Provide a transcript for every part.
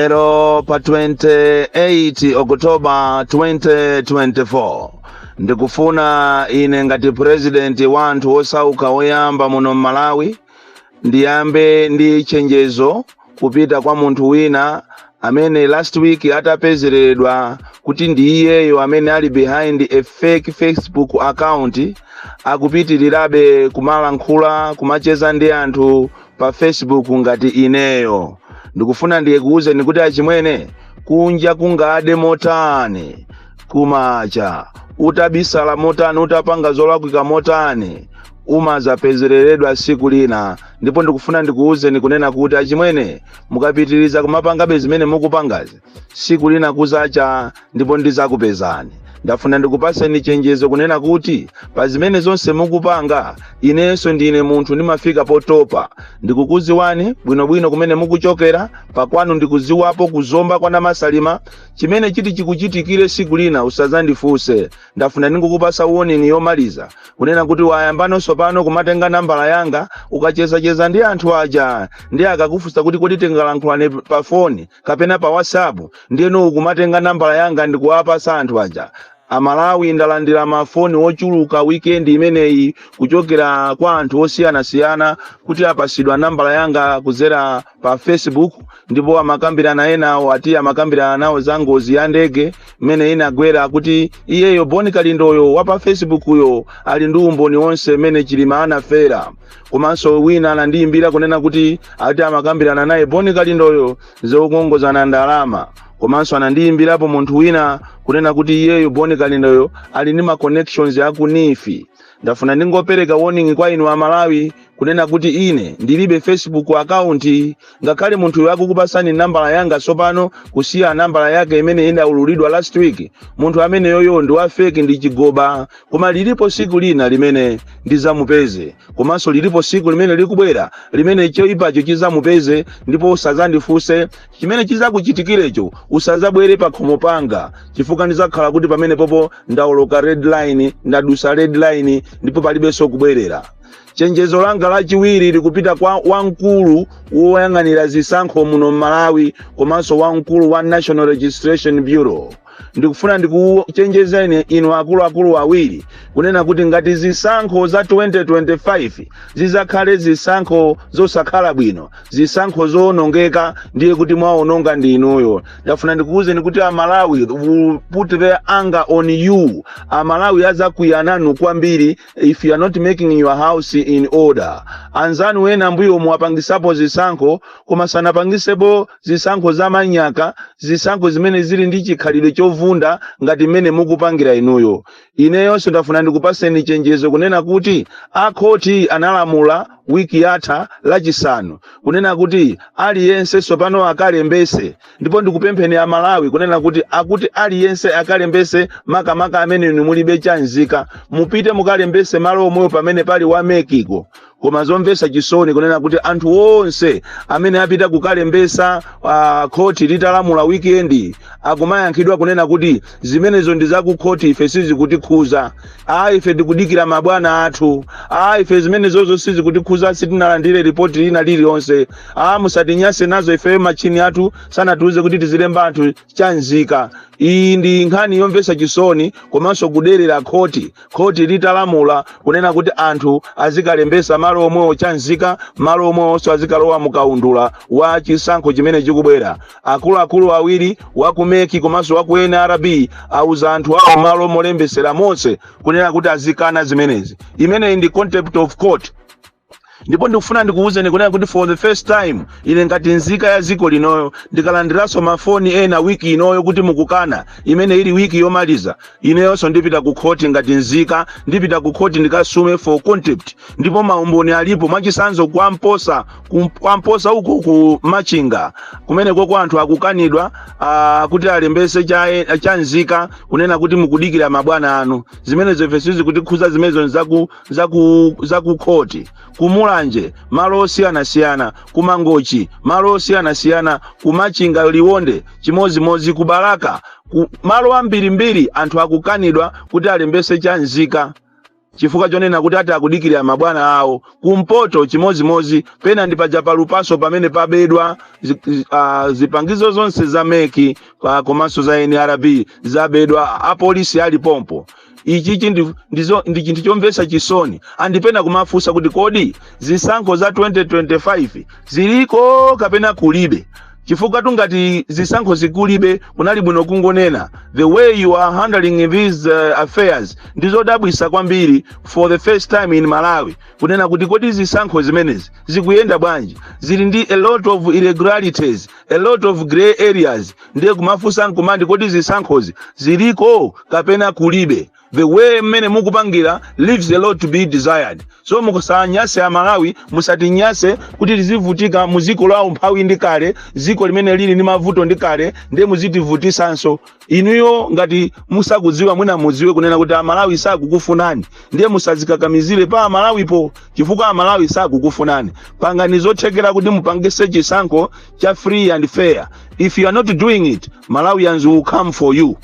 lero pa 28 oktoba 2024 ndikufuna ine ngati purezidenti wa anthu osauka oyamba muno m'malawi ndiyambe ndi chenjezo kupita kwa munthu wina amene last week atapezeredwa kuti ndi iyeyo amene ali behind a fake facebook account akupitirirabe kumalankhula kumacheza ndi anthu pa facebook ngati ineyo ndikufuna ndikuwuzeni kuti achimwene kunja kungade motani kumacha utabisala motani utapanga zolakwika motani umazapezereredwa siku lina ndipo ndikufuna ndikuwuzeni kunena kuti achimwene mukapitiriza kumapangabe zimene mukupangazi siku lina kuzacha ndipo ndizakupezani ndafuna ndikupaseni chenjezo kunena kuti pa zimene zonse mukupanga inenso ndine munthu ndimafika potopa ndikukuziwani bwinobwino kumene mukuchokera pakwanu ndikuziwapo ku zomba kwa namasalima chimene chiti chikuchitikire siku lina usazandifunse ndafuna ndingokupasa warning yomaliza kunena kuti wayambanonso pano kumatenga nambala yanga ukachezacheza ndi anthu aja nde akakufunsa kuti kodi tingalankhulane pa foni kapena pa whatsapp ndiyeno ukumatenga nambala yanga ndikuwapasa anthu aja amalawi ndalandira mafoni ochuluka wikendi imeneyi kuchokera kwa anthu osiyanasiyana kuti apasidwa nambala yanga kudzera pa facebook ndipo amakambirana enawo ati amakambirana nawo za ngozi ya ndege mmene inagwera kuti iyeyo boni kalindoyo wa pa facebook yo ali ndi umboni wonse mmene chilima anafera Komanso wina anandiyimbira kunena kuti ati amakambirana naye Boni Kalindoyo zokongozana ndalama. Komanso anandiyimbirapo munthu wina kunena kuti iyeyo Boni Kalindoyo ali ndi ma connections a ku NEEF. Ndafuna ndingopereka warning kwa inu a Malawi kunena kuti ine ndilibe Facebook account ngakhale munthuyo akukupatsani nambala yanga tsopano kusiya nambala yake imene inaululidwa last week munthu ameneyoyo ndi wa feki ndi chigoba koma lilipo siku lina limene ndizamupeze komanso lilipo siku limene likubwera limene choipacho chizamupeze ndipo usazandifunse chimene chizakuchitikirecho usazabwere pakhomo panga chifukwa ndizakhala kuti pamenepopo ndaoloka red line ndadusa red line ndipo palibenso kubwerera Chenjezo langa lachiwiri likupita kwa wamkulu woyang'anira zisankho muno m'Malawi komanso wamkulu wa National Registration Bureau. Ndikufuna ndikuchenjezeni inu akuluakulu awiri kunena kuti ngati zisankho za 2025 zizakhale zisankho zosakhala bwino, zisankho zowonongeka, ndiye kuti mwawononga ndi inuyo. Ndafuna ndikuwuzeni kuti Amalawi will put their anger on you. Amalawi azakwiya nanu kwambiri if you are not making your house in order anzanu ena mbuyomu apangisapo zisankho koma sanapangisepo zisankho za manyaka zisankho zimene zili ndi chikhalidwe chovunda ngati mmene mukupangira inuyo ineyonso ndafuna ndikupaseni chenjezo kunena kuti akhoti analamula wiki yatha lachisanu kunena kuti aliyense sopano akalembese ndipo ndikupempheni a malawi kunena kuti akuti aliyense akalembese makamaka amene inu mulibe chanzika mupite mukalembese malo omweyo pamene pali wa meki ko koma zomvesa chisoni kunena kuti anthu onse amene apita kukalembesa uh, khoti litalamula weekend akumayankhidwa kunena kuti zimenezo ndi zakukhoti ife sizikutikhuza a ife tikudikira mabwana athu a ife zimenezozo sizikutikhuza sitinalandire ripoti lina lililonse a musatinyase nazo ife machini athu sanatiuze kuti tizilemba anthu chanzika iyi ndi nkhani yomvesa chisoni komanso kuderera khoti khoti litalamula kunena kuti anthu azikalembesa malo omwewo chanzika malo omwewonso azikalowa mukaundula wa chisankho chimene chikubwera akuluakulu awiri wa ku meki komanso wa ku nrb auza anthu awo malo molembesera monse kunena kuti azikana zimenezi imeneyi ndi contempt of court ndipo ndikufuna ndikuwuzeni kunena kuti for the first time ine ngati nzika ya ziko linoyo ndikalandiranso mafoni ena wiki inoyo kuti mukukana imene ili wiki yomaliza ineyonso ndipita ku khoti ngati nzika ndipita ku khoti ndikasume for contempt ndipo maumboni alipo mwachisanzo kwa mposa ku- kwa mposa uko ku machinga kumeneko anthu akukanidwa ah, kuti alembese cha, chanzika kunena kuti mukudikira mabwana anu zimenezo ife sizikutikhuza zimenezo nzaku za ku za ku khoti kumulanje malo osiyanasiyana kumangochi malo osiyanasiyana kumachinga liwonde chimodzimodzi kubalaka malo ambirimbiri anthu akukanidwa kuti alembese chanzika chifukwa chonena kuti ati akudikirira mabwana awo kumpoto chimodzimodzi pena ndi paja pa lupaso pamene pabedwa zi, zi, uh, zipangizo zonse za meki pa komanso za nrb zabedwa apolisi ali pompo ichichi ndi, ndizo, ndi chinthu chomvetsa chisoni and pena kumafunsa kuti kodi zisankho za 2025 ziliko kapena kulibe chifukwatu ngati zisankho zi kulibe kunali bwino kungonena the way you are handling these uh, affairs ndizodabwisa kwambiri for the first time in malawi kunena kuti kodi zisankho zimenezi zikuyenda bwanji zili ndi a lot of irregularities a lot of grey areas ndiye kumafunsa nkumati kodi zisankhozi ziliko kapena kulibe the way mmene mukupangira leaves a lot to be desired so musanyase amalawi musatinyase kuti tizivutika muziko la umphawi ndi kale ziko limene lili ndi mavuto ndi kale ndiye muzitivutisanso inuyo ngati musakudziwa mwina mudziwe kunena kuti amalawi sakukufunani ndiye musazikakamizire pa amalawipo chifukwa amalawi sakukufunani pangani zothekera kuti mupangise chisankho cha free and fair if you are not doing it malawians will come for you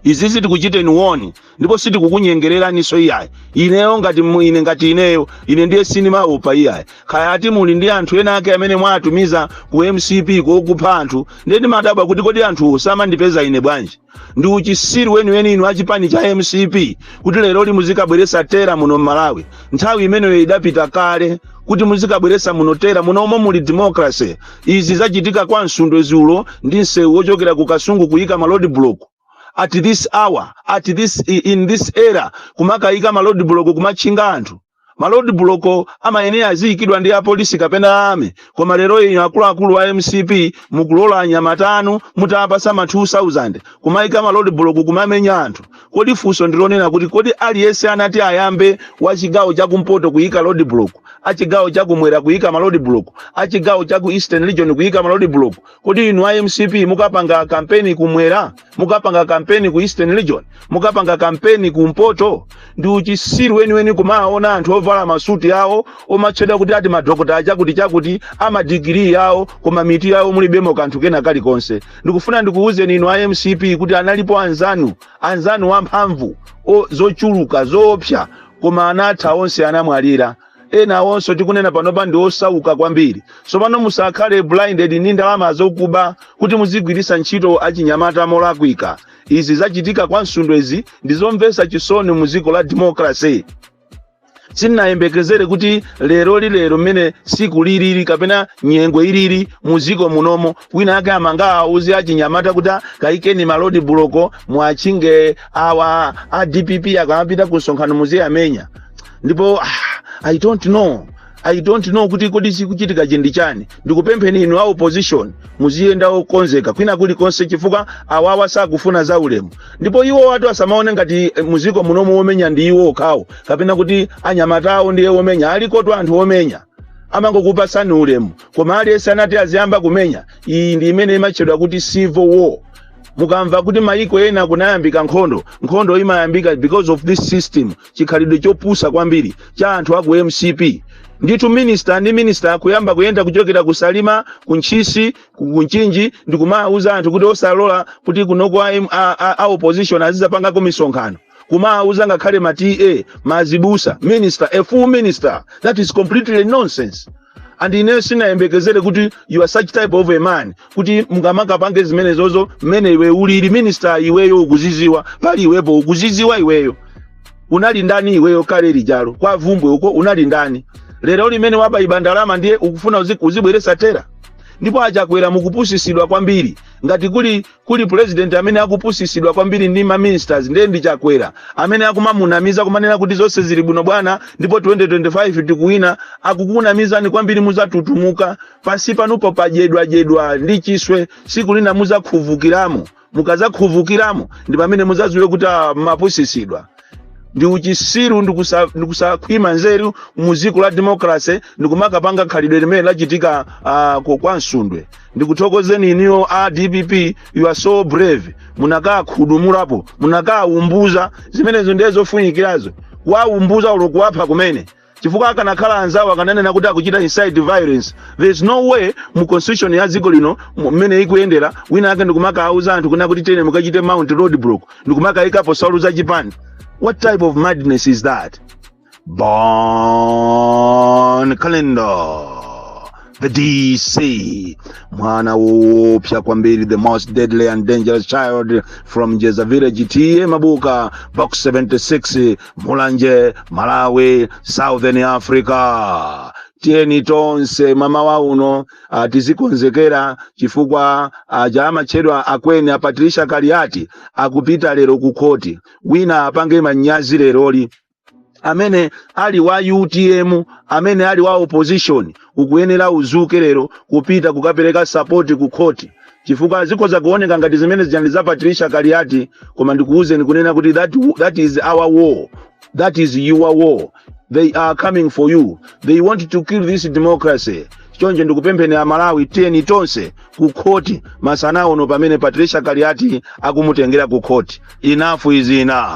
izizi tikuchiteni warn ndipo sitikukunyengereraninso iyayi ineyo ngati mu- ine ngati ineyo ine ndiye sindimaopa iyayi kaya ati muli ndi anthu ena ake amene mwatumiza ku mcp okupha anthu ndiye ndimadabwa kuti kodi anthuwo samandipeza ine bwanji ndi uchisiru weniweni inu achipani cha mcp kuti lero li muzikabweretsa terror muno mmalawi nthawi imeneyo idapita kale kuti muzikabweretsa muno terror muno omwe muli democracy izi zachitika kwa msundwe dzulo ndi msewu wochokera ku kasungu kuyika ma road block at this hour at this in this era kumakayika ma road block kumatchinga anthu ma road block amayenera aziikidwa ndi apolisi kapena army koma lero inu akuluakulu a mcp mukulola anyamata anu mutawapatsa ma 2000 kumayika ma road block kumamenya anthu kodi funso ndilonena kuti kodi aliyense atati ayambe wa chigawo chakumpoto kuyika road block achigawo chakumwera kuyika ma road block achigawo chaku eastern region kuyika ma road block kodi inu a mcp mukapanga kampeni kumwera mukapanga kampeni ku eastern region mukapanga kampeni ku mpoto ndi uchisiru weniweni kumaona anthu ovala masuti awo omatchedwa kuti ati madokota achakuti chakuti amadigiri yawo koma mitu yawo mulibemo kanthu kena kalikonse ndikufuna ndikuwuzeni inu a mcp kuti analipo anzanu anzanu amphamvu o- zochuluka zoopsa koma anatha onse anamwalira ena awonso tikunena panopa ndi osauka kwambiri tsopano musakhale blinded ndi ndalama zokuba kuti muzigwiritsa ntchito achinyamata molakwika izi zachitika kwa msundwe izi ndi zomvetsa chisoni mu dziko la democracy sinnayembekezere kuti lero lilero mmene tsiku lilili kapena nyengo ilili mudziko munomo wina ake angawauze achinyamata kuti kayikeni ma road block muwatchinge awa a dpp akamapita ku msonkhano muziwamenya ndipo ah, i don't know i don't know kuti kodi chikuchitika chi ndi chani ndikupempheni inu a opposition muziyenda okonzeka kwina kulikonse chifukwa awawa sakufuna za ulemu ndipo iwowatu asamaone ngati eh, mudziko munomu omenya ndi iwo okhawo kapena kuti anyamata awo ndiye omenya alikotu anthu omenya amangokupatsani ulemu koma aliyense atati aziyamba kumenya iyi ndi imene imatchedwa kuti civil war mukamva kuti mayiko ena kunayambika nkhondo nkhondo imayambika because of this system chikhalidwe chopusa kwambiri cha anthu a ku mcp ndithu minista ndi minista kuyamba kuyenda kuchokera ku salima ku ntchisi ku ku mchinji ndi kumawuza anthu kuti osalola kuti kunoko a, M- a, a, a opposition azidzapangako misonkhano kumawuza ngakhale ma ta ma azibusa minister a full minister that is completely nonsense and ineyo sinayembekezere kuti you are such type of a man kuti mungamakapange zimenezozo mmene iwe ulili minister iweyo ukuziziwa pali iwepo ukuziziwa iweyo unali ndani iweyo kale lijalo kwa vumbwe uko unali ndani lero mmene wabaiba ndalama ndiye ukufuna uzi- uzibweresa terror ndipo achakwera mukupusisidwa kwambiri ngati kuli kuli president amene akupusisidwa kwambiri ndi ma ministers ndiye ndi chakwera amene akumamunamiza kumanena kuti zonse zili bwino bwana ndipo 2025 tikuwina akukunamizani kwambiri muzatutumuka pansi panupo padyedwadyedwa ndi chiswe siku lina muzakhuvukiramo mukazakhuvukiramo ndi pamene muzadziwe kuti amapusisidwa ndi uchisiru ndi kusa- ndi kusakhwima nzeru mu dziko la demokrase ndi kumakapanga khalidwe limene lachitika ah, ku- kwa msundwe ndikuthokozeni inuyo a dpp you are so brave munakagudumulapo munakawumbuza zimenezo ndiye zofunikirazo kuwawumbuza olo kuwapha kumene chifukwa akanakhala anzawo akananena kuti akuchita incite violence there is no way mu constitution ya dziko lino mu- mmene ikuyendera wina ake ndikumakauza anthu kunena kuti tiyeni mukachite mount roadblock ndikumakayikapo nsalu za chipani what type of madness is that bon kalindo the DC, mwana woopsa kwambiri, the most deadly and dangerous child from Jeza Village, TA Mabuka, box 76, Mulanje, Malawi, Southern Africa. tiyeni tonse mmamawa uno ah, tizikonzekera chifukwa aja amatchedwa akweni a Patricia Kaliati akupita lero ku khoti wina apange manyazi leroli amene ali wa utm amene ali wa opposition ukuyenera uzuke lero kupita kukapereka support ku khoti chifukwa zikhoza kuoneka ngati zimenezija ndi za patricia kaliati koma ndikuwuzeni kunena kuti that, that is our war that is your war they are coming for you they want to kill this democracy choncho ndikupempheni amalawi tiyeni tonse ku khoti masana uno pamene patricia kaliati akumutengera ku khoti enough is enough